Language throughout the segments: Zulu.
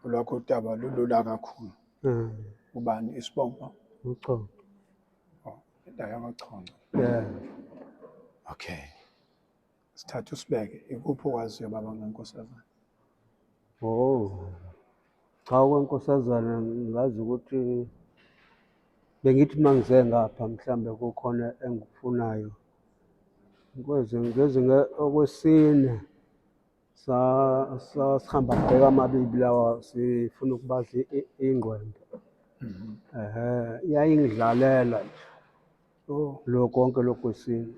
olwakho udaba lulula kakhulu Mm. ubani isibongo Umchongo. indawo yamachonco Yeah. okay sithatha usibeke ikuphi okwaziyo baba ngenkosazana Oh. Cha okwenkosazana ngazi ukuthi bengithi uma ngize ngapha mhlambe kukhona engikufunayo. Ngeze ngeze nge- okwesine sasihamba bheka amabibi lawa sifuna ukubadla ingqwembe mhm. ehe yayingidlalela nje oh. lo konke lokhu kwesintu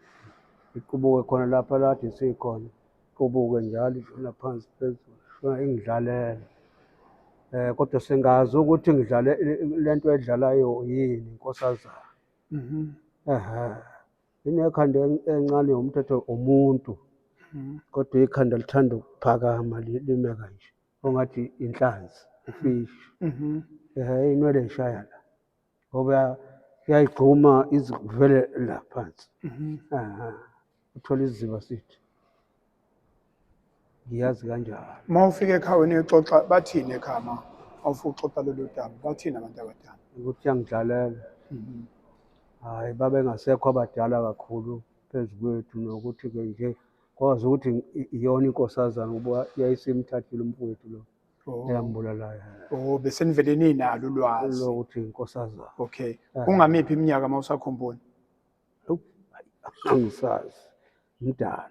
iqubuke khona lapha lade sikhona iqubuke njalo ishona phansi phezulu shona ingidlalela um kodwa singazi ukuthi ngidlale le nto edlalayo yini nkosazana mhm. ehe Inekhanda en- encane yomthetho umuntu Mm. kodwa ikhanda lithanda ukuphakama li- lime kanje ongathi inhlanzi ifishi Mhm. eh inwele ishaya la ngoba yayigxuma izivele la phansi Mhm. aha uthola iziba sithi ngiyazi kanjalo uma ufika ekhawini uyoxoxa bathini ekhaya ma awufuna ukuxoxa lolu daba bathini abantu abadala ukuthi uyangidlalela Mhm. hhayi babengasekho abadala kakhulu phezu kwethu nokuthi-ke nje kwazi ukuthi i- iyona inkosazana ukuba yayisimthathile umfowethu lo Oh. eyambulalayo Oh, besenivele ninalo ulwazi lokuthi inkosazana okay kungamiphi iminyaka uma usakhumbula angisazi mdala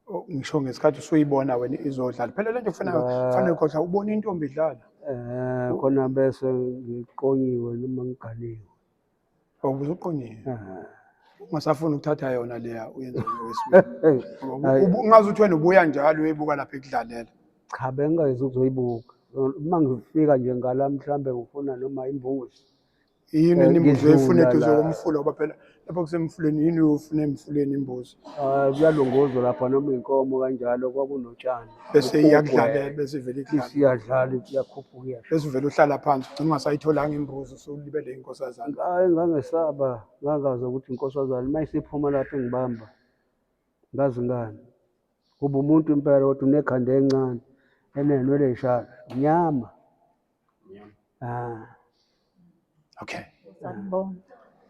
Oh, ngisho ngesikhathi usuyibona wena izodlala phela lento kufana Ba- kufana ukhohlwa ubona intombi idlala eh khona bese ngiqonyiwe noma ngiganiwe awubuze uqonyile Eh, ungasafuni ukuthatha yona leya uyenza ngowesibili eh, Ngoba Ayi. ubu- ungaze uthi wena ubuya njalo uyoyibuka lapha ekudlalela cha bengingayezi ukuzoyibuka uma ngifika nje ngala mhlambe ngifuna noma imbuzi yini Eh, imbuzi ngidlula oyifuna eduze la. komfula ngoba phela lapha kusemfuleni yini uyofuna emfuleni imbuzi Ah, kuyalongozwa lapha noma inkomo kanjalo kwakunotshani bese Kukugwe. iyakudlalela bese ivele ikudlale isiyadlala iyakhuphuka iyasho bese uvele uhlala phansi ugcina ungasayitholanga imbuzi usulibele inkosazana hayi ngangesaba ngangazi ukuthi inkosazane uma isiphuma lapho engibamba ngazi ngani kuba umuntu impela kodwa unekhanda encane enenwele ey'shaka nyama Ah. Okay. Sanibona.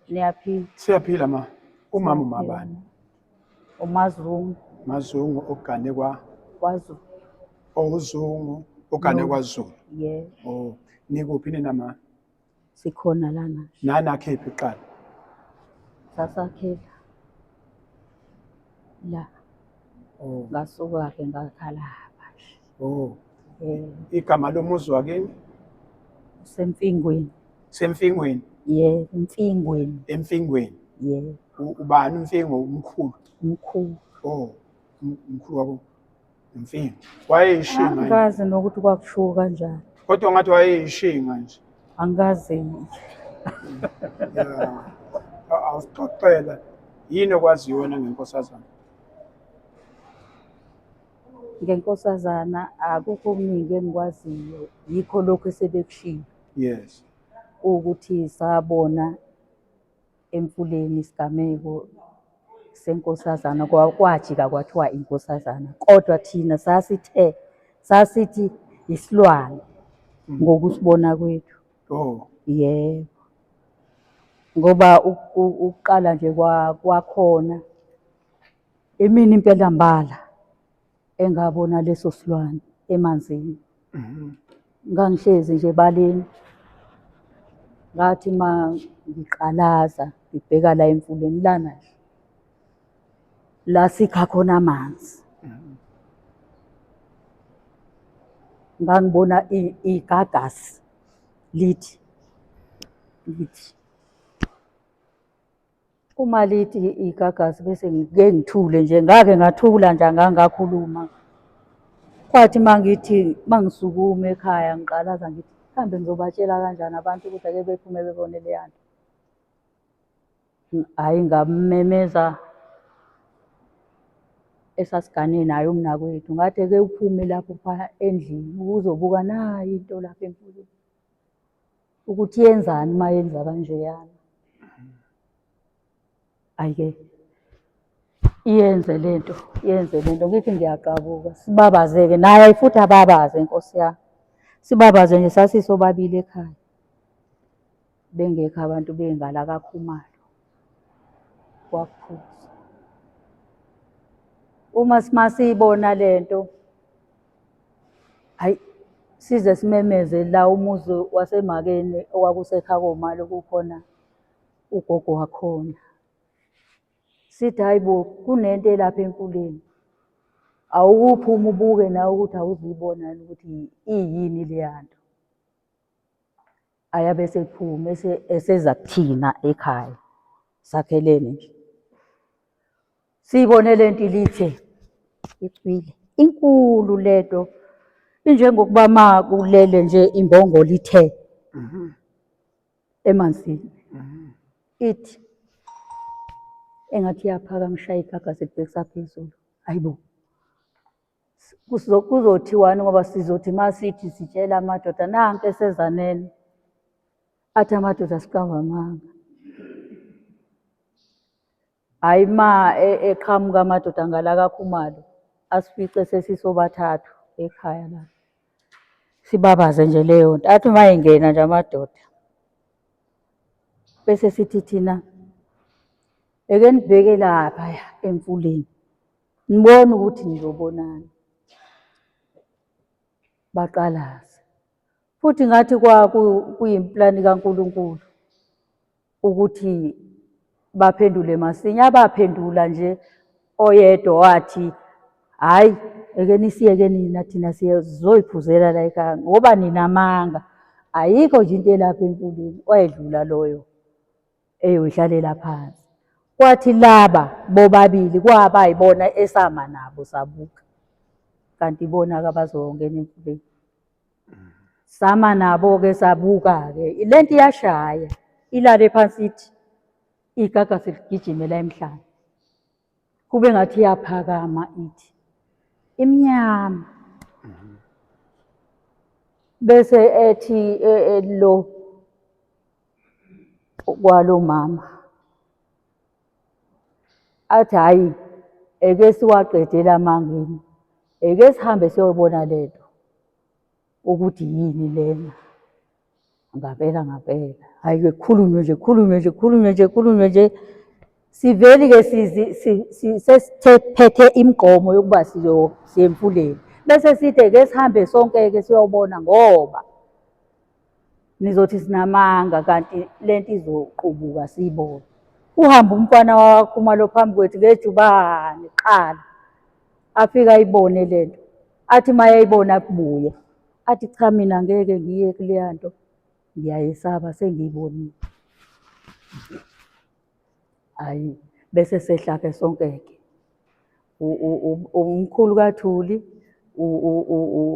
Niyaphila. Siyaphila ma. Umama umabani? Umazungu. Mazungu ogane kwa KwaZulu. ozungu ogane No. kwaZulu. Yeah. Oh, nikuphi nina ma? Sikhona lana. Nana khiphi qala. Sasakhela. La. Oh, Ngasuka ke ngakhala bandla. Oh. Eh, Igama lomuzi wakini usemfingweni. semfingweni Ye, emfingweni. emfingweni Ye, U- ubani umfingo umkhulu mkhulu. oh um- umkhulu wabo umfingo wayeyishinga yini? Angikaze nokuthi kwakushiwo kanjani. kodwa ngathi wayeyishinga nje Angikaze. Yeah. A- awusixoxela yini okwaziyo wena ngenkosazana Ngenkosazana akukho okuningi engikwaziyo yikho lokhu esebekushilo. Yes. Ukuthi sabona emfuleni isigameko senkosazana kwajika kwathiwa inkosazana kodwa thina sasithe sasithi isilwane mm. ngokusibona kwethu. Oh. Yebo. Ngoba ukuqala nje kwakhona Imini impela mbala engabona leso silwane emanzini. Ngangihlezi nje ebaleni. Ngathi ma ngiqalaza ngibheka la emfuleni lana nje. La sikha khona amanzi. Ngangibona i- igagasi lithi lithi Uma lithi igagasi bese ngike ngithule nje ngake ngathula nje angangakhuluma. Kwathi uma ngithi uma ngisukuma ekhaya ngiqalaza ngithi kambe ngizobatshela kanjani abantu ukuthi ake bephume bebone leya nto. Hhayi ngamemeza esasigane naye umnakwethu ngathi ake uphume lapho endlini uzobuka nayi into lapha emfuleni. ukuthi yenzani uma yenza kanjeyana ayike iyenze le nto yenze le nto ngithi ngiyaqabuka sibabaze-ke naye futhi ababaze nkosi yami sibabaze nje sasisobabili ekhaya bengekho abantu bengala kakhumalo kwaphuza uma simasiyibona le nto hayi size simemeze la umuzi wasemakeni owakusekha komali kukhona ugogo wakhona sithi hayi bo kunento elapha enkuleni awukuphuma ubuke nawe ukuthi awuzuyibona yini ukuthi iyini leya nto ayabe esephuma ese- eseza kuthina ekhaya sakhelene nje siyibone le nto ilithe icwile inkulu lento injengokuba ma kulele nje imbongolo ithe emanzini ithi engathi iyaphaka ngishaye igagasi libhekisa phezulu hayibo Kuzothiwani ngoba sizothi uma sithi sitshela amadoda nanke esezanele athi amadoda siqamba amanga. Hhayi uma e, eqhamuka amadoda ngala kakhumalo asifice sesisobathathu ekhaya la. Sibabaze nje leyo nto. Athi uma engena nje amadoda bese sithi thina eke nibheke lapha emfuleni Nibona ukuthi nizobonani. Baqalaze. Futhi ngathi kwakuyimpulani kaNkulunkulu ukuthi baphendule masinya. Abaphendula nje oyedwa wathi, hhayi, eke nisiyeke nina thina sizoyiphuzela la ekhaya ngoba ninamanga. Ayikho nje into elapha emfuleni, wayedlula loyo. eyodlalela phansi kwathi laba bobabili kwaba yibona esama nabo sabuka kanti ibona kabazongena emfuleni sama nabo-ke sabuka-ke le nto iyashaya ilale phansi ithi igaga seligijimela emhlane kube ngathi iyaphakama ithi imnyama mhm. bese ethi e, e, lo kwalo mama athi hayi eke siwaqedela amangeni eke sihambe siyobona lento ukuthi yini lena Ngabela ngabela. Hayi ke khulunywe nje khulunywe nje khulunywe nje khulunywe nje. Siveli ke sesiphethe imigomo yokuba siyemfuleni. Bese sithe ke sihambe sonke ke siyobona ngoba nizothi sinamanga kanti lento izoqubuka siyibone. Uhamba umfana wakhuma lo phambi kwethu ngejubane qala. Afika ayibone lento. Athi mayayibona kubuye. athi cha mina ngeke ngiye kuleya nto ngiyayesaba sengiyibonile hayi bese sehla-ke sonke-ke umkhulu kathuli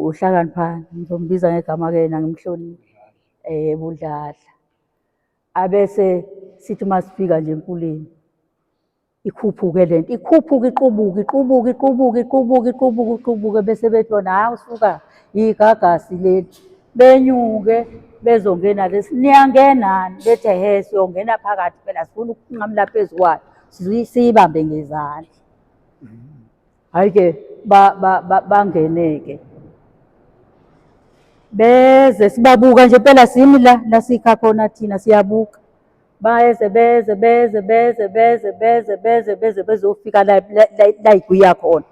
uhlakaniphani ngizombiza ngegama-ke yena ngimhloniphe um eh, budladla abese sithi uma sifika nje emfuleni ikhuphuke le nto ikhuphuke iqubuke iqubuke iqubuke iqubuke iqubuke iqubuke bese bethi bona hhayi usuka yigagasi leli benyuke bezongena lesi niyangenani bethi ehe siyongena phakathi phela sifuna ukunqamula phezu kwayo siyibambe ngezandla hayi ke bangeneke beze sibabuka nje phela simi la la sikha khona thina siyabuka bayeze beze beze beze beze beze beze beze bezofika la la igwiya khona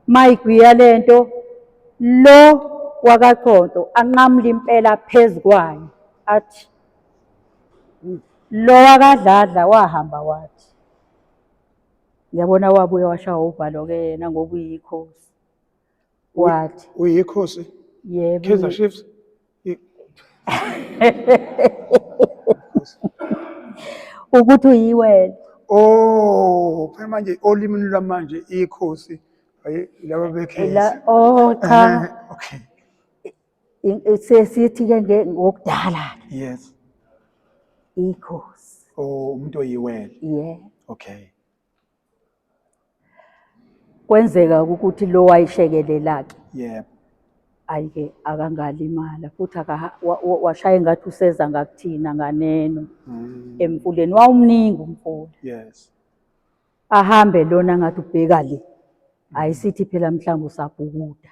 mayigwiya lento lo wakaConto anqamula impela phezu kwayo athi lo wakadladla wahamba wathi Yabona wabuye washawa uvalo-ke yena ngoba uyikhosi. Wathi. Uyikhosi? Yebo. Kaizer Chiefs? Ukuthi uyiwena. Oh, phela manje olimini lwamanje ikhosi laba bekhensi. Oh cha. Okay. sesithi ke ngokudala yes ikhosi oh umuntu oyiwele yeah okay kwenzeka ukuthi lo wayishekelela ke yebo ayike akangalimala futhi washaya engathi useza ngakuthina nganeno mm. emfuleni wawumningi umfula yes ahambe lona ngathi ubheka le ayisithi phela mhlawumbe usabhukuda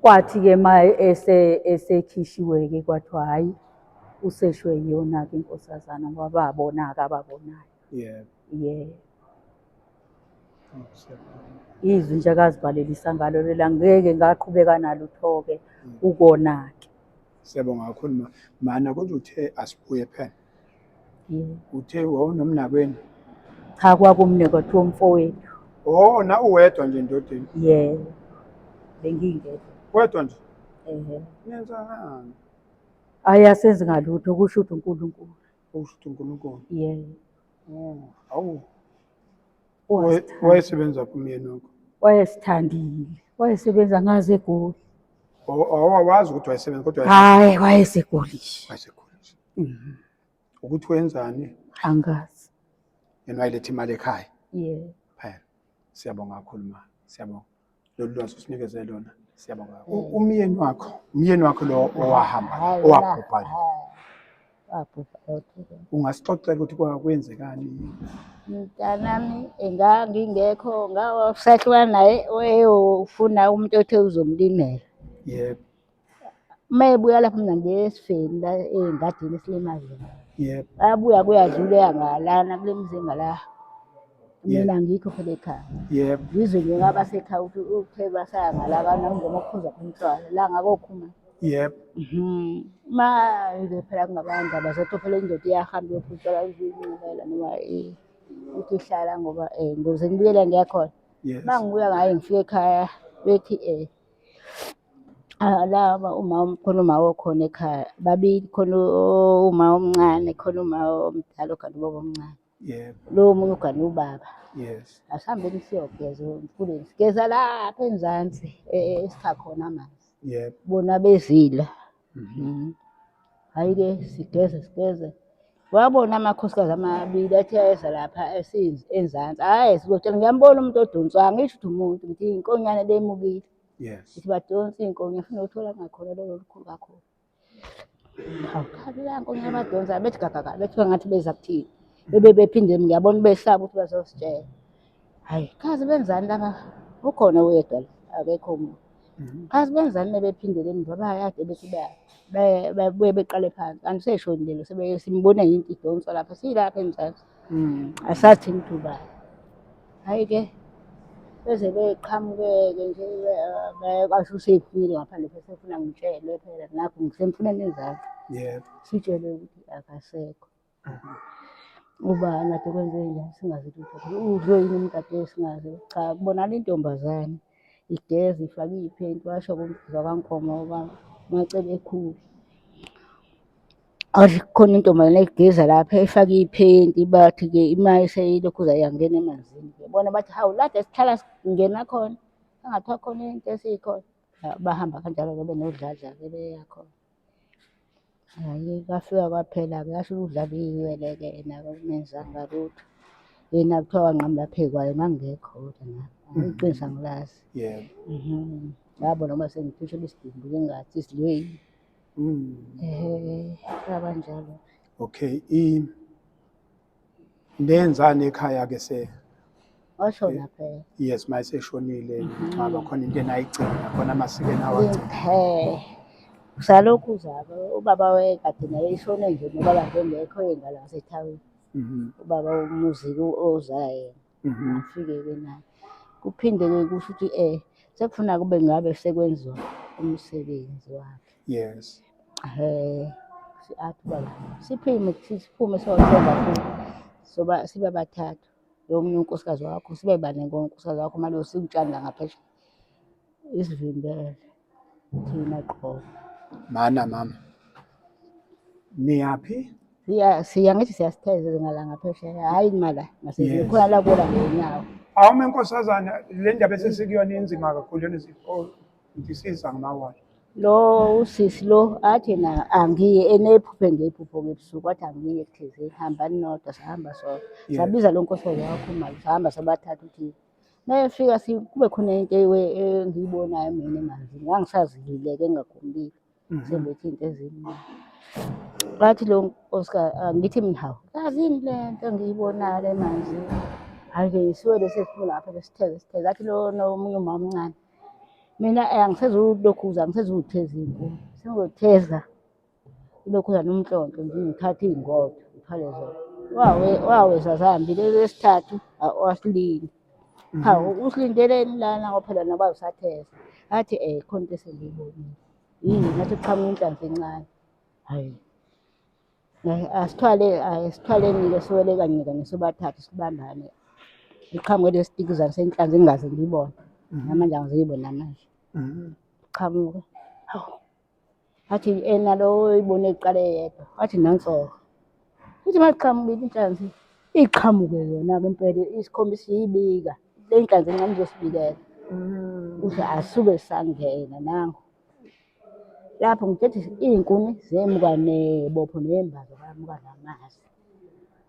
Kwathi-ke uma esekhishiwe-ke kwathiwa hhayi useshwe yiyona-ke inkosazana ngoba babona-ke ababonayo. Yebo. Yeah. Izwi nje akazibhalelisa ngalo lela ngeke ngaqhubeka nalutho-ke ukona-ke. Siyabonga kakhulu ma. Mana kodwa uthe asibuye phela. uthe wawunomnakwenu cha kwakumne kwathiwa umfowethu oh na uwedwa nje endodeni ye bengingedwa wedwa nje ehe nenzani ayi asenzi ngalutho kusho ukuthi uNkulunkulu usho ukuthi uNkulunkulu ye oh awu wayesebenza kumyeni wakho wayesithandile wayesebenza ngaze egoli awawazi ukuthi wayesebenza kodwa hayi wayesegoli wayesegulisha Mhm. ukuthi wenzani angazi yena wayiletha imali ekhaya yeah phela siyabonga kakhulu ma siyabonga lolu lwazi usinikeze lona siyabonga kakhulu. U- umyeni wakho umyeni wakho lo owahamba Hayi, owabhubha la, hayi. Wabhubha yodwa. ungasixoxela ukuthi kwa- kwenzekani mntanami engangingekho ngawasahlukana naye wayewufuna umuntu othe uzomlimela yebo uma ebuya lapho mina ngiye esifeni la engadini esilimayo yebo abuya kuyadlula yangalana kule mzinga la mina ngikho phela ekhaya yebo ngizwe nje ngaba sekhaya ukuthi uthe basayangala kana ngoma ukuphuza umntwana la ngakokhuma yebo mhm. ma nje phela kungabanda bazothi phela indoda iyahamba yophutshela izinqubela noma eh, ukuthi ihlala ngoba um eh, ngoze ngibuyela ngiyakhona ma ngibuya ngaye ngifike ekhaya bethi um Ah, laba uma khona uma okhona ekhaya babili khona uma omncane khona uma omdala ogana ubaba omncane yebo lowo omunye ugana ubaba yes asihambeni siyogeza emfuleni sigeza lapha enzansi e- e- esikha khona amanzi yebo bona bezila Mhm. Hhayi-ke sigeze sigeze. Wabona amakhosikazi amabili athi ayeza lapha esinz- enzansi. Hhayi sizotshela ngiyambona umuntu odonswa angisho ukuthi umuntu ngithi inkonyane bemukile. Yes. Ukuthi badonsa iy'nkonya funa uthola ngakhona lolo olukhulu kakhulu. Hawu khani la nkonyane badonsa bethi gagagala bethi kwangathi beza kuthina. Bebe bephinde ngiyabona besaba ukuthi bazositshela. hayi kazi benzani laba ukhona uyedwa la akekho omunye Mhm. kazi benzani mebephindele emva bayade bethi baya- baya- babuye beqale phansi kanti seshoni lelo sebe- simbona yinto idonswa lapha siyilapha emzansi Mm. asathi ngidubane hhayi-ke beze beqhamuke-ke nje be- be- kwasho usephumile ngaphandle besefuna ngitshelwe phela nakho ngisemfuneni ezakhe Yebo. sitshelwe ukuthi akasekho uba ngathi kwenze njani singazi lutho udliwe yini umdadewethu singazi cha kubonakala intombazane igeza ifake iy'phenti washo kumvuza kwankomo uba macebe ekhulu athi kukhona intombazane egeza lapha efake iy'phenti bathi-ke imali seyilokhu zayangena emanzini ke bona bathi hawu lade sihlala singena khona angathiwa khona into esiyikhona bahamba kanjalo-ke benodladla-ke beyakhona Hhayi kwafika kwaphela-ke yasho ukudlala iy'nwele-ke yena-ke kungenzanga lutho. Yena kuthiwa wanqamula phezu kwayo ngangingekho kodwa nami. Hhayi iqiniso angilazi. Yebo. Mhm. Ngabona uma sengiphushela isidumbu ngingathi isilweyi. Mm. Ehhe, kwabanjalo. Okay. I Nenzani ekhaya ke se? Oshona phela. Yes, mayiseshonile ngicaba khona into enayigcina khona amasiko enawagcina. He. Salokhu uzaba ubaba wekade naye ishone nje nobaba ngengekho ingane wasethawini. Mhm. Ubaba umuzi ozala yena. Mhm. ngafike-ke naye kuphinde-ke kusho ukuthi um sekufuna kube ngabe sekwenziwa umsebenzi wakhe Yes. um athi ubaba siphume siphume siyothenga futhi soba sibe bathathu lo munye unkosikazi wakho sibe bane ngonkosikazi wakho manje sikutshanda ngaphesheya isivimbele thina qho mana mama niyaphi siya siya ngithi siyasithezela ngalanga phesheya hayi kumala ngasizini Yes. khona la kuwola ngenyawo awume nkosazana le ndaba esesikuyona inzima kakhulu yona ndisiza ngamawala lo usisi lo athi na angiye enephuphe ngephupho ngebusuku wathi angiye kuthizeni hambani nodwa sahamba sodwa Yes. sabiza lo nkosi wakho umali sahamba sobathatha ukuthi Mayefika si kube khona into ewe- engiyibonayo mina manje ngangisazilileke engakhululeki sembethe into ezimbi. Wathi lo Oscar angithi mina hawu yazini le nto engiyibonayo le manje. Hhayi ke ngisiwele sesiphuma lapha besitheze sitheze athi lona omunye umama omncane. Mina eh, angisezulokhuza angisezukutheza inkuni sengizotheza Ilokhuzana nomntlonto nje ngithatha iy'ngodo ngithwale zona. Wawe wawe sasihambile lesithathu wasilindi. Cha usilindeleni lana ngoba phela naba usatheza. Athi eh khona into esengiyibonile. Yini ngathi kuqhamuka inhlanzi encane. Hhayi. Asithwale asithwaleni-ke siwele kanye kanye sobathathu sibambane. Iqhamuke lesi tikizana senhlanzi engingaze ngiyibone. Namanje angiziyiboni namanje. Iqhamuke. Hawu. Athi ena lo oyibone kuqala eyedwa. Athi nansoka. Ithi mayiqhamukile inhlanzi iqhamuke yona ke impela isikhombisa iyibika. Le nhlanzi encane izosibikela. Uthi asuke sangena nangu. Lapho ngithethe iy'nkuni zemuka nebopho neyembazo bayamuka namazwi.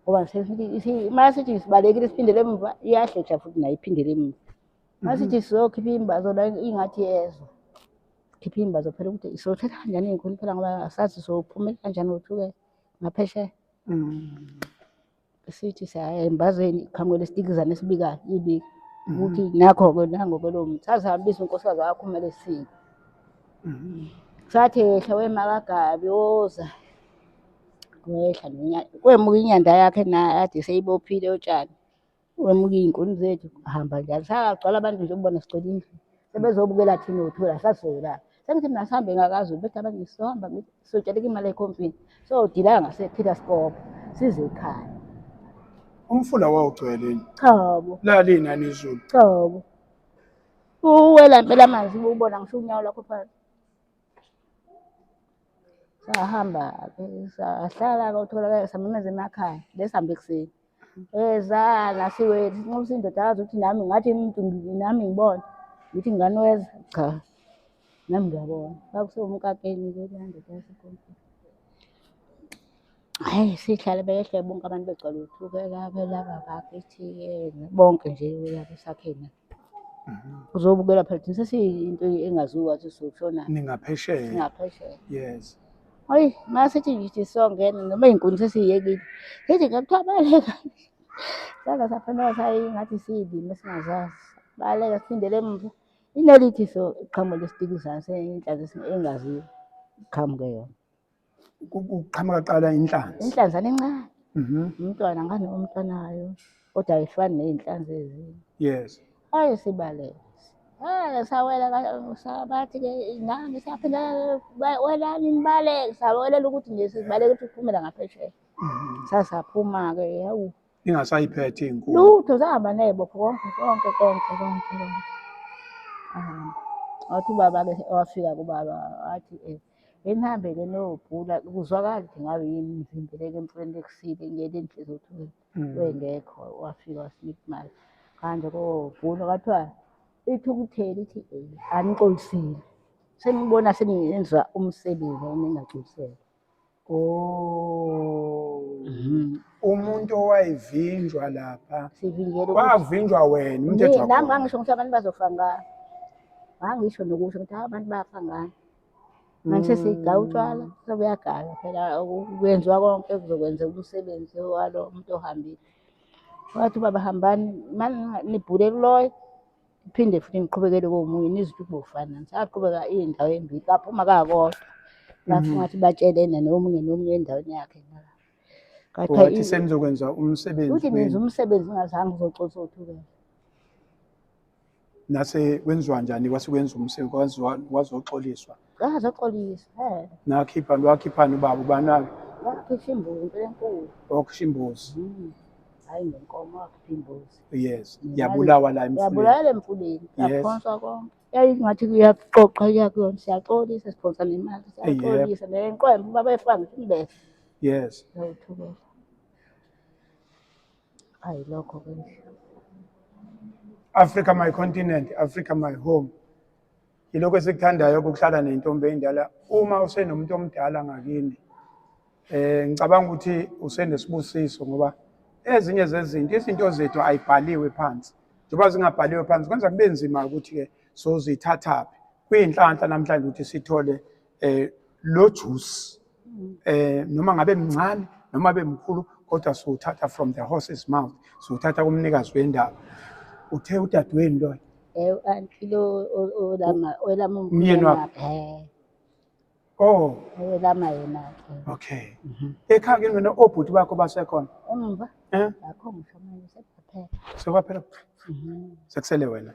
Ngoba uma sithi sibalekile siphindele emuva iyahlehla futhi nayo iphindele emuva. Uma sithi sizokhipha imbazo la ingathi yezwa. Khipha iy'mbazo phela ukuthi siyothatha kanjani iy'nkuni phela ngoba asazi sophumela kanjani wothuke ngaphesheya. Mm. Sithi saya embazweni qhamuke lesitikizana esibikayo ibika Mm. ukuthi nakho-ke nangoke lowo muntu sazihambisa unkosikazi wakhuma lesiko Mm. sathi ehla wemakagabi woza wehla nonya- kwemuka inyanda yakhe naye ade seyibophile utshani Wemuke iy'nkuni zethu hamba njalo. Sagcwala abantu nje ubona sigcwele indlu. Sebezobukela thina uthula sasola. Sengithi mina sihambe ngakaZulu bethi abanye sizohamba ngithi sizotsheleka imali ekhompini. Sodilaka ngasePeter Sikobo size ekhaya. Umfula wawugcwele yini? Cha bo, Lalini nani izulu. cha bo. Uwela impela amanzi ubona ngisho unyawo lakho phansi. Sahamba-ke sahlala-ke utholakala samemeza emakhaya. Besihambe ekuseni. Eza nasiwethu sinxusa indoda yazi ukuthi nami ngathi umuntu ngi- nami ngibona ngithi ngingane weza cha nami ngiyabona kwakusewumkakeni ke leya ndoda yasekonfini hayi sihlale behle bonke abantu begcwala uthukela belaba bakithi yena bonke nje uyabo sakheni uzobukela phela thina sesiyinto engaziwa ukuthi soshona ningaphesheya singaphesheya yes hayi masithi ngithi songena noma inkuni sesiyekile ngithi ngakuthiwa baleka sala saphenduka sayi ngathi siyilima singazazi baleka siphindele emuva inelithi so iqhamuka lesitiki zase inhlanzi engaziwa iqhamuke yona Ku- Kuqhamuka kuqala inhlanzi. inhlanzana encane Mhm. umntwana ngane umntwanayo kodwa ayifani ney'nhlanzi ezinye Yes. ayi sibalele Eh, sawela ka- sa- bathi ke nami saphinda ba- welani nibaleke sawelela ukuthi nje sibaleke ukuthi kuphumela ngaphesheya Mhm. sasaphuma-ke yawu ingasayiphethe inkulu lutho zahamba ney'bopho konke konke konke konke konke ahamba wathi ubaba-ke wafika kubaba wathi um enihambele niyobhula kuzwakala ukuthi ngabe yini ngivimbeleke emfuleni lekusile ngiyele inhlizi ukuthi mm. wengekho wafika wasinika imali kanje kobhula kwathiwa ithukutheli ithi um anixolisile senibona seningenzwa umsebenzi eningagculisele Oh. Mhm. Umuntu owayivinjwa lapha. Sivinjelwe Kwavinjwa wena umthetho wakho. Nami ngangisho ukuthi abantu bazofa ngani. Ngangisho nokusho ukuthi abantu bafa ngani. Manje mm. sigaya utshwala sobuyagaya phela kwenziwa konke kuzokwenzeka umsebenzi walo muntu ohambile. Wathi ubaba hambani mani nibhule kuloyo. Iphinde futhi ngiqhubekele komunye niziphiwe finance. Aqhubeka indawo embili baphuma kakodwa. Bafuna mhm. ukuthi batshelene nomunye nomunye endaweni yakhe ngala. Wathi senizokwenza umsebenzi. Uthi nenza umsebenzi ngazange uzocosa uthukela. Nase kwenziwa njani kwase kwenza umsebenzi kwazoxoliswa. Ah, zoxolisa. Eh. Nakhipha wakhiphani ubaba ubani-ke? Wakhipha imbuzi impela enkulu. Wakhipha imbuzi. Mm. Hayi ngenkomo wakhipha imbuzi. Yes. Yabulawa la emfuleni. Yabulawa la emfuleni. Yaphonswa konke. Yayingathi kuyaxoxa kuyakuyona siyaxolisa siphonsa nemali siyaxolisa nenqwembe ubaba efika ngithi imbese. Yes. Yawuthukela. Hayi lokho ke. Africa my continent, Africa my home. Yilokho esikuthandayo ukuhlala nentombi endala uma usenomuntu omdala ngakini. Eh ngicabanga ukuthi usenesibusiso ngoba ezinye zezinto izinto zethu ayibhaliwe phansi. Njengoba zingabhaliwe phansi kwenza kube nzima ukuthi ke sozithathaphi. Kuyinhlanhla namhlanje ukuthi sithole eh lo juice mm. eh noma ngabe mncane noma abe mkhulu kodwa siwuthatha from the horse's mouth siwuthatha kumnikazi wendaba uthe udadewenu loyo eh anti lo olama olama umyeni wakhe eh. oh olama yena okay mhm. ekhaya ke wena obhuti bakho basekhona umva eh akho ngisho manje sekwaphela sekwaphela mhm. sekusele wena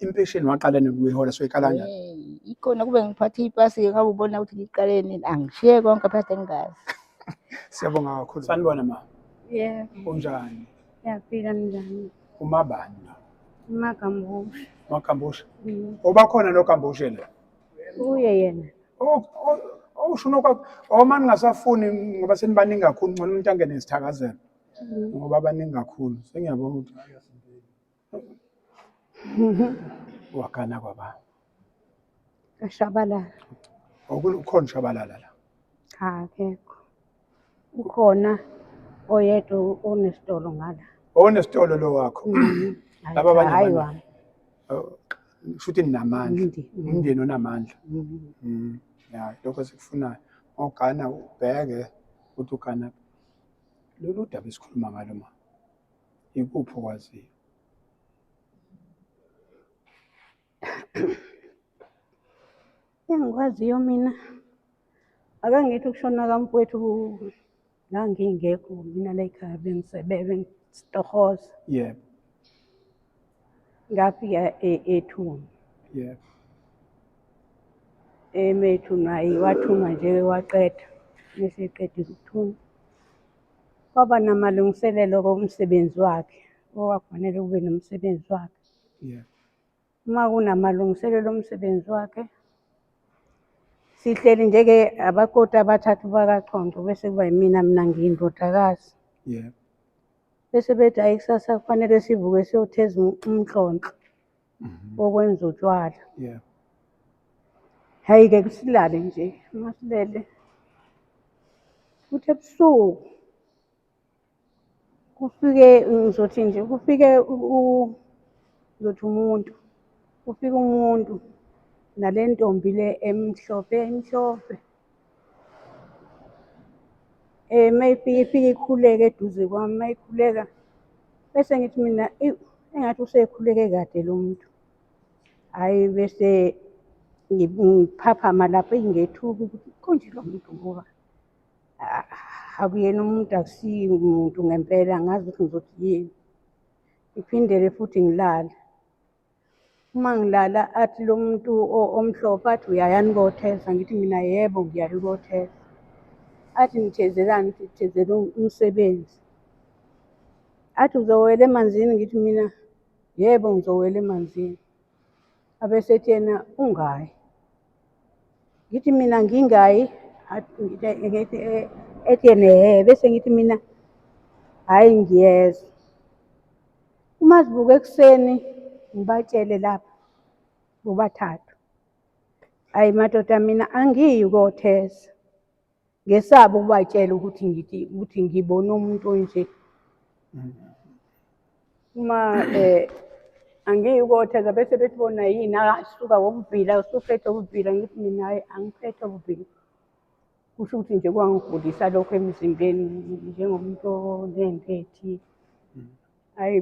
impesheni waqala nokuyihola soyikalanya ikona kube ngiphathe ipasi ngabe ubona ukuthi ngiqale nini angishiye konke phakathi engazi siyabonga kakhulu sanibona ma yeah unjani yaphila njani umabani la umagambusha umagambusha mm. obakhona nogambushe la uye yena owusho unokwa oma ningasafuni ngoba senibaningi kakhulu ngcono umuntu angene isithakazelo mm. ngoba baningi kakhulu sengiyabona ukuthi Wakana kwaba. Kashabalala. Ukhona ushabalala la. Cha akekho. Ukhona oyedwa onesitolo ngala. Onesitolo lo wakho. Mm-hmm. Laba abanye hayi wami. Oh, Shuthi ninamandla. Umndeni onamandla. Mm-hmm. Mm. Ya, lokho sikufunayo. Ogana ubheke ukuthi ugana lolu daba esikhuluma ngalo mama. Ikuphi okwaziyo? Engikwaziyo mina akangithi ukushona kamfowethu ngangingekho mina la ekhaya bengisebenza bengisitohoza. Yebo. Ngafika e-, ethuna. Yebo. Emethunwa wathunwa nje waqeda. Meseqedile ukuthunwa. Kwaba namalungiselelo komsebenzi wakhe owakufanele kube nomsebenzi wakhe. Yeah. Uma kunamalungiselelo omsebenzi wakhe sihleli njeke abakoti abathathu bakachonco bese kuba yimina mina ngiyindodakazi. Yeah. Bese bethi ayi kusasa kufanele sivuke siyotheza umnhlonhlo. Mhm. bokwenza utshwala Yeah. hhayi-ke kusilale nje uma silele futhi ebusuku kufike ngizothi nje kufike u- u- ngizothi umuntu kufike umuntu nale ntombi le emhlophe emhlophe Eh maybe ifike ikhuleke eduze kwami, mayikhuleka bese ngithi mina ewu engathi usekhuleke kade lo muntu. Hhayi bese ngiphaphama lapho eyi ngethuka ukuthi konje lo muntu ngoba ah, akuyena umuntu akusiye umuntu ngempela angazi ukuthi ngizothi yini. Ngiphindele futhi ngilale. uma ngilala athi lo muntu omhlophe athi uyayani kothesa ngithi mina yebo ngiyaye kothesa athi nithezelani ngithi thezela umsebenzi athi uzowela emanzini ngithi mina yebo ngizowela emanzini abesethi yena ungayi ngithi mina ngingayi ngithi eh, ethi yena ehe bese ngithi mina hhayi ngiyezwa uma sivuka ekuseni ngibatshele lapha bobathathu ayi madoda mina angiyi kothesa Ngesaba ukubatshela ukuthi ngithi ukuthi ngibona umuntu onje. Uma eh angiyi ukothaza bese bethi bona yini akasuka wokuvila usuphethe ukuvila ngithi mina hayi angiphethe ukuvila. Kusho ukuthi nje kwangigulisa lokho emzimbeni njengomuntu onendethi. Hhayi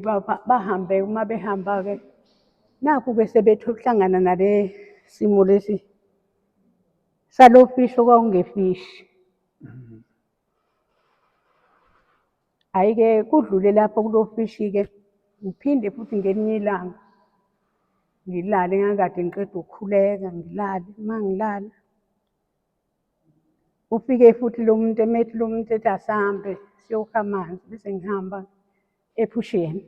bahambe uma behamba-ke nakhu-ke sebethe ukuhlangana nale simo lesi. Salofishi okwakungefishi. Hhayi-ke kudlule lapho kulofishi-ke ngiphinde futhi ngelinye ilanga ngilale ngangikade ngiqeda ukukhuleka ngilale uma ngilala ufike futhi lo muntu emethi lo muntu ethi asihambe siyokha amanzi bese ngihamba ephusheni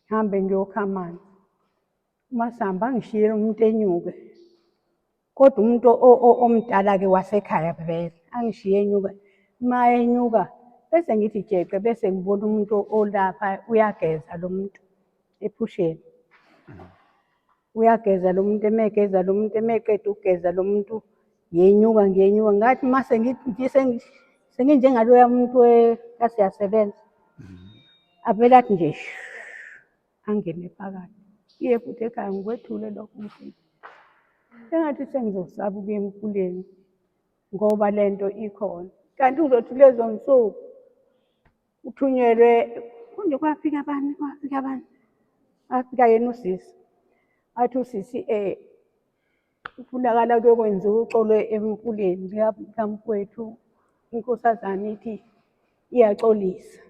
ngihambe ngiyokha amanzi uma sihamba ngishiyele umuntu enyuke Kodwa umuntu omdala-ke wasekhaya vele angishiye enyuka uma enyuka bese ngithi jeqe bese ngibona umuntu olapha uyageza lo muntu ephusheni uyageza lo muntu emegeza lo muntu emeqeda ukugeza lo muntu yenyuka ngiyenyuka ngathi uma senginjengaloya muntu kasiyasebenza avele athi nje angene phakathi iye futhi ekhaya ngikwethule lokho mfethu engathi sengizosaba ukuya emkhuleni ngoba le nto ikhona kanti uzothi lezo nsuku uthunyelwe kunje kwafika abani kwafika abani afika yena usisi athi usisi um Kufunakala kuyokwenziwa uxolo emfuleni likamfowethu inkosazane ithi iyaxolisa.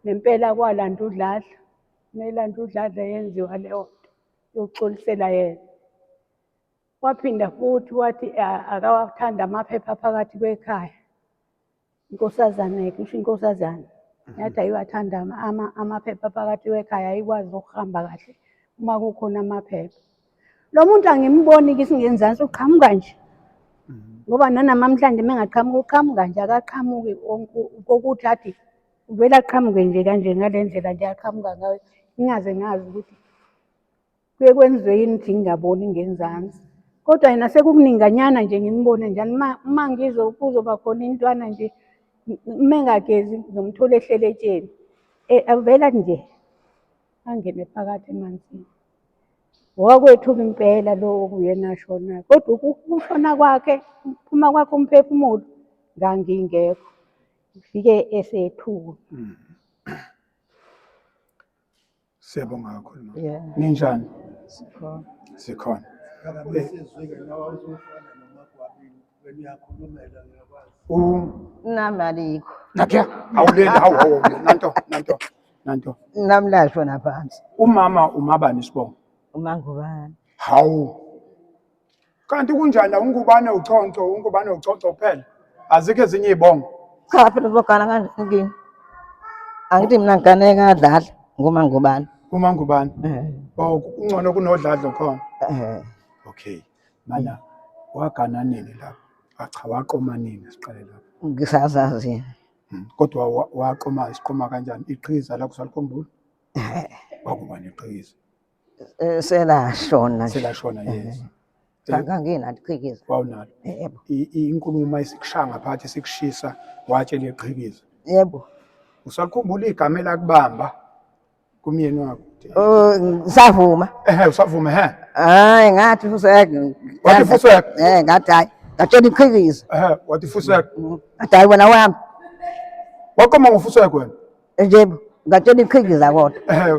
Nempela kwalanda udladla, melanda udladla yenziwa leyo nto yokuxolisela yena. Waphinda futhi wathi akawathanda amaphepha phakathi kwekhaya. Inkosazana kusho inkosazana mhm. yathi ayiwathanda amaphepha phakathi wekhaya ayikwazi ukuhamba kahle uma kukhona amaphepha. Lo muntu angimboni ke isingenzansi uqhamuka nje mhm. ngoba nanamamhlanje mengaqhamuka uqhamuka nje akaqhamuki kokuthi athi uvele aqhamuke nje kanje ngale ndlela nje aqhamuka ngayo ngingaze ngazi ukuthi Kuye kwenziwe yini ukuthi ngingaboni ngenzansi kodwa yena sekukuninganyana nje ngimbone njani uma ngizwe kuzoba khona intwana nje uma engagezi ngizomthola ehlele etsheni eh, avela nje angene phakathi emanzini wakwethuka impela lo okuyena ashona kodwa ukushona kwakhe ukuphuma kwakhe umphefumulo ngangingekho ngifike esethuka mm. Siyabonga kakhulu mama. Yeah. Ninjani? Sikhona. Sikhona. U Nami alikho. Nakia, awuleli hawu hawu awuleli. nanto nanto nanto. Nami lasho naphansi. Umama umabani isibongo? Umangubani. Hawu Kanti kunjani ungubane uchonco ungubane uchonco kuphela azikho ezinye izibongo. Cha phela uzogana kanje inkinga. Angithi mina ngigane kadlala ngoma ngubani. Uma ngubani. Eh. Oh kungcono kunodladlo khona. Eh. Okay. Mana wagana nini lapho? Acha ah, waqoma nini siqale lapho? Ngisazazi. Hmm, kodwa waqoma isiqoma kanjani? Iqhiza lakho salikhumbula? Eh. Wakubani iqhiza? Eh, selashona nje. selashona yes Cha, Kanginalo iqhikiza. wawunalo Eh, Yebo. I- i- inkulumo uma isikushaya ngaphathi isikushisa watshela iqhikiza Yebo. usakhumbula igama elakubamba kumyeni wakho Oh, ngisavuma. ehe usavuma he Hayi ngathi fuseke. Wathi fuseke? Eh, ngathi hayi. Ngatshela iqhikiza. ehe wathi fuseka Ngathi hayi wena wami. waqoma ngofuseka wena Nje ngatshela iqhikiza kodwa. Eh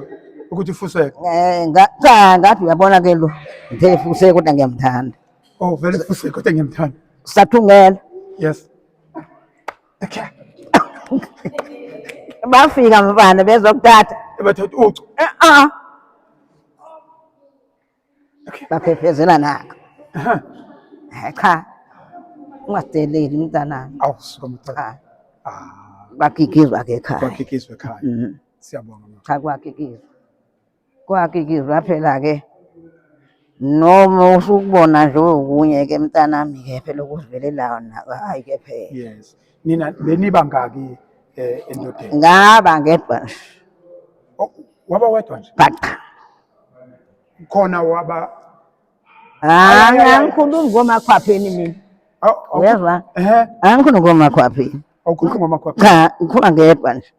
ukuthi fuseke. Eh ngathi ngathi uyabona ke lo. Ngithe fuseke kodwa ngiyamthanda. Oh vele fuseke kodwa ngiyamthanda. Sathungela. Yes. Okay. Bafika mfana bezokuthatha. Ebathatha ucu. Eh ah. baphephezela naka Eh, cha ungasideleli mntanami Awu suka mthatha. cha Ah, kwakikizwa ke ekhaya kwakikizwe ekhaya. Mhm. Siyabonga mama. cha kwakikizwa kwakikizwa phela ke noma usukubona nje okunye ke mntanami ke phela ukuzivelelayo nako hayi ke phela Yes. Nina beniba ngaki eh endodeni? ngaba ngedwa nje Oh, Waba wedwa nje. bhaqa khona waba Ah, angikhulumi ngomakhwapheni mina. Uyezwa? Ehe. Angikhulumi ngomakhwapheni. Awukhulumi ngomakhwapheni. Cha, ngikhuluma ngedwa nje.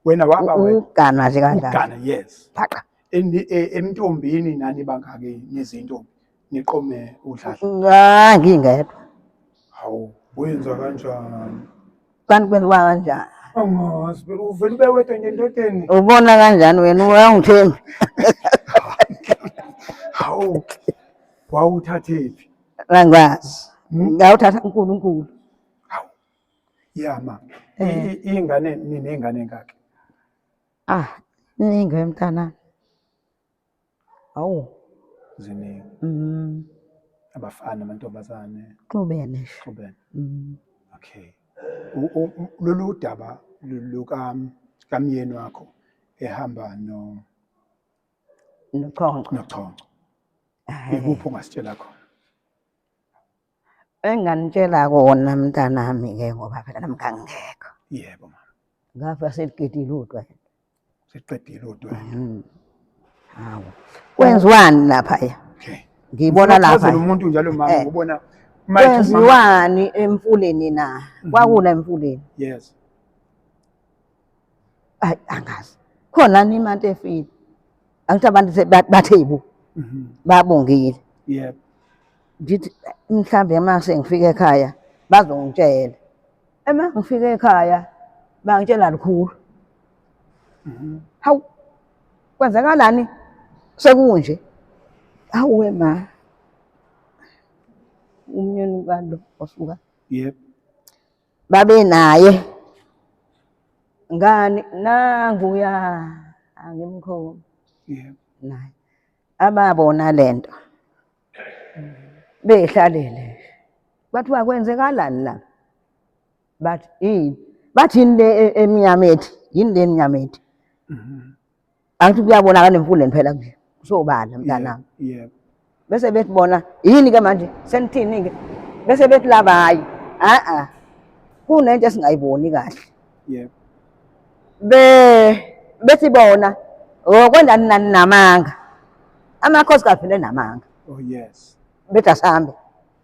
Wena waba wena. Ugana nje kanjalo. Ugana, yes. Phaqa. E, emntombini nani bangake nezintombi niqome udlala. Ah, ngingedwa. Hawu, wenza kanjani? Kanti kwenziwa kanjani? Angazi, phela uvele ube wedwa nje endodeni. Ubona kanjani wena uyangithembi? Hawu. Wawuthathephi? Angazi. Hmm? Ngawuthatha uNkulunkulu. Hawu. Ya ma. Eh. Ingane nini ingane ngakhe? Ah, ningi mntana. Awu. Ziningi. Mm. Abafana amantombazane. Xubene. Xubene. Mm. Okay. Lolu daba luka kamyeni wakho ehamba no nochonco. Nochonco. Ikuphi ongasitshela khona? Enganitshela kona mntanami ke ngoba phela nami ngangingekho. Yebo mama. Ngafa seliqedile udwa. Seliqedile udwa. Mhm. Hawu. Kwenziwani lapha ya? Okay. Ngibona lapha. Ngizocela umuntu njalo mama eh. ngibona kwenziwani emfuleni na? Mm-hmm. Kwakuna emfuleni. Yes. ayi angazi khona ni imali efile angithi abantu se- ba- bathe yibo Mhm. babongile Yebo. ngithi mhlambe uma sengifika ekhaya bazongitshela uma ngifika ekhaya bangitshela lukhulu Mhm. hawu kwenzakalani sekunje hawu we ma umnyeni kalo osuka Yebo. babe naye ngani nanguya angimkhulu yebo naye ababona lento behlalele kwathiwa kwenzekalani la bathi yini bathi yini le e- emnyama ethi yini le emnyama ethi Mhm. angithi kuyabonakala emfundeni phela nje kusobala mntanami yebo bese bethi bona yini ke manje senithini ke bese bethi laba hayi a a kunento esingayiboni kahle yebo be bethi bona okwenda nani namanga amakhosi kaphile namanga oh yes bethi asambe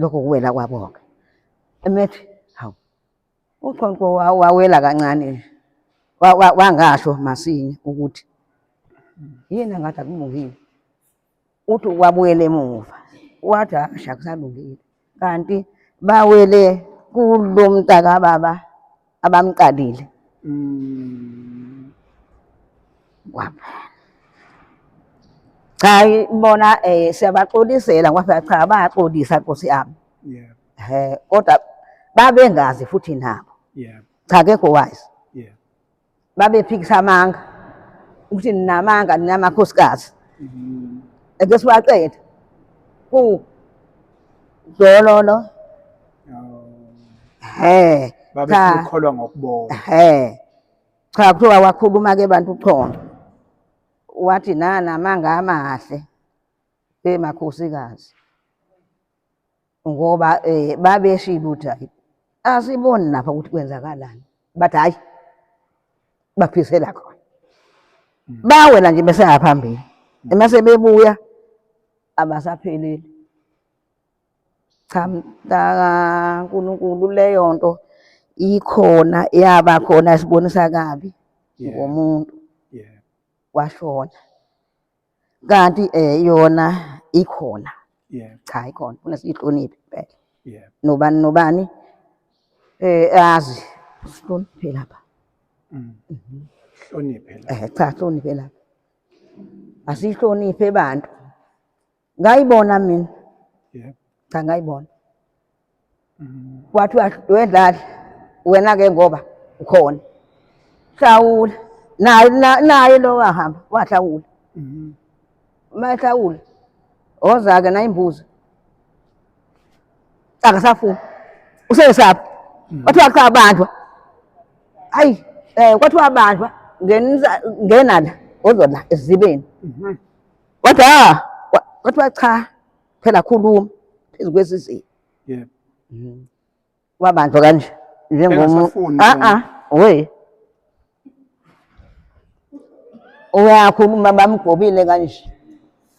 lokho kuwela kwabo-ke emethi hawu uqonqo wawela kancane nje wangasho masinya ukuthi yini engathi akulungile uthi wabuyela emuva wathi asha kusalungile kanti bawele kulo mntakababa abamqalile mm. kwapha cha bona eh siyabaxolisela ngoba cha abaxolisa Nkosi yami yeah eh kodwa babengazi futhi nabo yeah cha ke ko wise babephikisa amanga ukuthi ninamanga ninamakhosikazi mm-hmm. ake siwaqeda ku dololo he babekholwa ngokubona he cha kuthiwa wakhuluma ke bantu uchondo wathi nana amanga amahle emakhosikazi ngoba um babeshilo ukuthi hayi asiboni lapha ukuthi kwenzakalani bathi hhayi baphisela khona hmm. bawela nje besengaphambili hmm. emase bebuya abasapheleli cha mntaka nkulunkulu leyo nto ikhona yaba khona sibonisa kabi ngomuntu washona kanti eh yona ikhona yeah cha ikhona kunesihloniphi impela yeah nobani nobani eh azi sihloniphe lapha mm. mhm. hloniphe lapha eh cha hloniphe lapha asihloniphe abantu ngayibona mina yeah cha ngayibona wathi wedlala wena-ke ngoba ukhona hlawula naye na- naye lo wahamba wahlawula Mhm. uma ehlawula oza-ke nayimbuzo akasafuni usesaphi kwathiwa cha bandlwa hayi um kwathiwa bandlwa ngenisa- ngena la ozola esizibeni Mhm. wathi ha kwathiwa cha phela khuluma phezu kwesizinda yebo mhm. wabanjwa kanje njengomuntu a a we uyakhuluma bamgobile kanje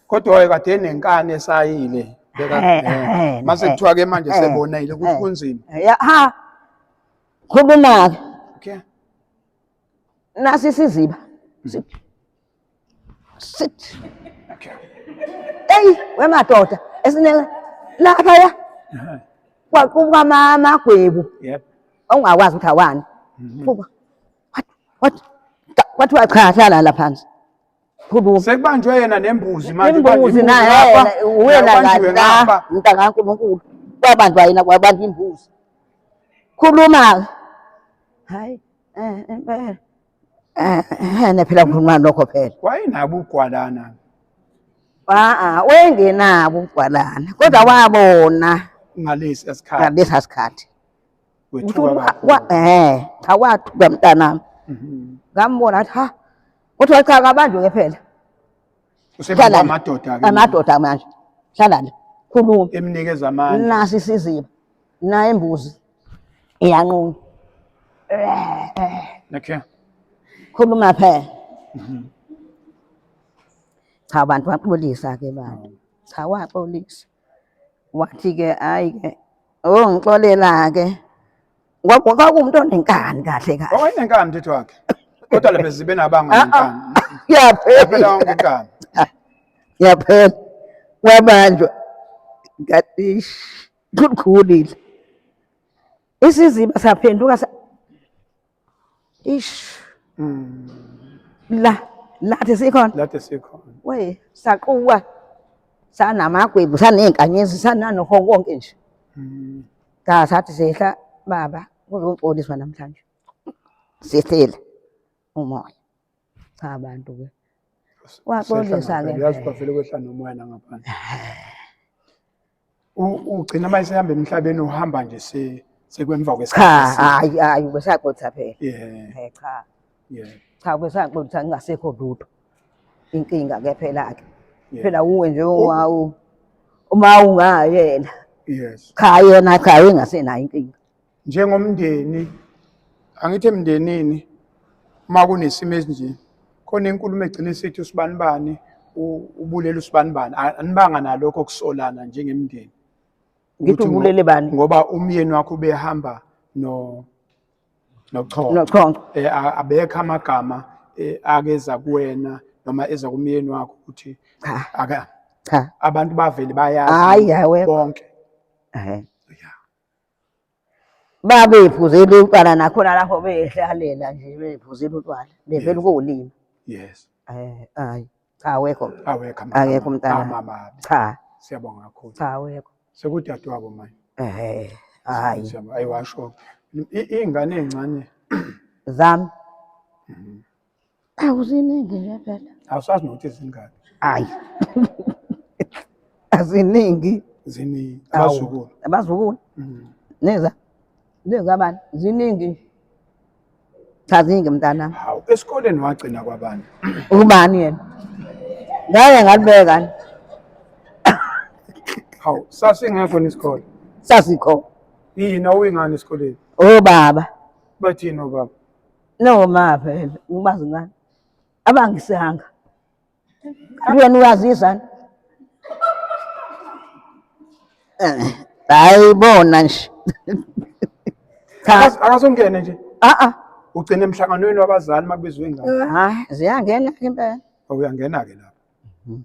kodwa waye kade nenkani esayile beka eh, eh, eh, mase kuthiwa ke manje sebonile ukuthi kunzima ha khuluma ke nasi siziba mm. Sit. Eyi wemadoda esinele laphaya kwaqubuka amagwebu ongakwazi ukuthi awani. Mhm. What? What? Kwathiwa cha hlala la phansi. Phuluka. Sekubanjwe yena nembuzi manje. Imbuzi naye wena kahle la mntakaNkulunkulu. Kwabanjwa yena kwabantu imbuzi. Khuluma. Hayi. Eh, eh, eh. Ehene eh, phela ngikhuluma lokho phela. Wayenabo ugwalana. Ah, wayengenabo ugwalana kodwa mm. wabona ngalesi asikhathi. Ngalesi asikhathi. Wethuka. Eh, cha wathuka mntanami. Mhm. Ngambona athi ha. Kuthiwa cha kabanjwe ke phela. Usebenza amadoda ke. Amadoda manje. Hlala la. Khuluma. Emnikeza amandla. Nasi isiziba. Naye imbuzi. Iyanquma. Okay. Khuluma phela. Mhm. Cha abantu baxolisa ke bantu. Cha waxolisa. wathi ke hayi ke oh ngixolela ke kwakuwumuntu onenkani kahle kahle owayenenkani mthetho wakhe kodwa le bezibe nabanga ah, ah. nenkani yaphela wonke inkani yaphela wabanjwa ngatish kukhulile isiziba saphenduka ish mm. la lathi sikhona lathi sikhona we saquwa sanamagwebu sanezinkanyezi sananoho konke nje mm. da sathi sehla baba kuzoxoliswa namhlanje sihlele umoya cha abantu ke waxolisa ke yazi bafele kwehla nomoya nangaphandle ugcina uma esehamba emhlabeni uhamba nje se sekwemva kwesikhathi cha hayi hayi ubesaqotha phela yeah cha yeah cha ubesaqotha ngingasekho lutho inkinga ke phela ke phela uwe nje wawu uma ungayena yes cha yena cha engasenayo inkinga njengomndeni angithi emndenini uma kunesimo esinje khona inkulumo egcina isithi usibanibani ubulele usibanibani anibanga nalokho kusolana njengemndeni ngithi ubulele bani ngoba umyeni wakho ubehamba no nochongo nochongo eh abekho amagama eh, akeza kuwena noma eza kumyeni wakho ukuthi aka cha abantu bavele bayazi bonke ehe babeyiphuzela utshwala nakhona lapho beyihlalela nje beyiphuzela utshwala bevela ukuwulima yes eh hayi cha awekho awekho akekho umntana mama cha siyabonga kakhulu cha awekho sekudadewabo manje eh hayi ayiwasho ingane encane zami mhm. Awu ziningi nje vele. Awusazi nokuthi zingaki. Hayi. Aziningi. Ziningi. Awu, Abazukulu. Abazukulu. Mm. Neza. Neza bani? Ziningi. Cha ziningi mntana. Hawu, esikoleni wagcina kwabani? Ubani yena? Ngeke ngalibeka ni. Hawu, sasingekho nesikole. Sasikho. Yini awuyingani esikoleni? Oh baba. Bathini obaba? No ma vele umazi ngani? Abangisanga. Wena uyazizana. Eh, Hayi bona nje. Cha, Akas- Akasongene nje. a a. Ugcina emhlanganweni wabazali makubizwe ingane. Hayi, ziyangena ke impela. Awuyangena ke lapho.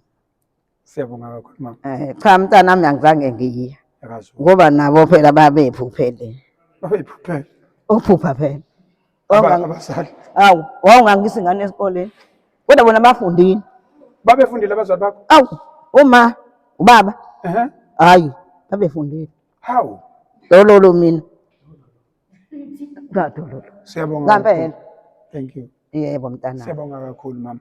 Siyabonga kakhulu mama. Eh, cha mntana wami angizange ngiye Akazo. ngoba nabo phela babephuphele Babeyiphuphela. ukuphupha phela Aba- Wawunga- Abazali. awu wawungangisa ingane esikoleni kodwa bona bafundile Babefundile abazali bakho. awu uma ubaba Ehhe. hayi babefundile Hawu. lololo mina ngadololo Siyabonga. Ngampela. kakhulu. Thank you. yebo mntana Siyabonga kakhulu mama.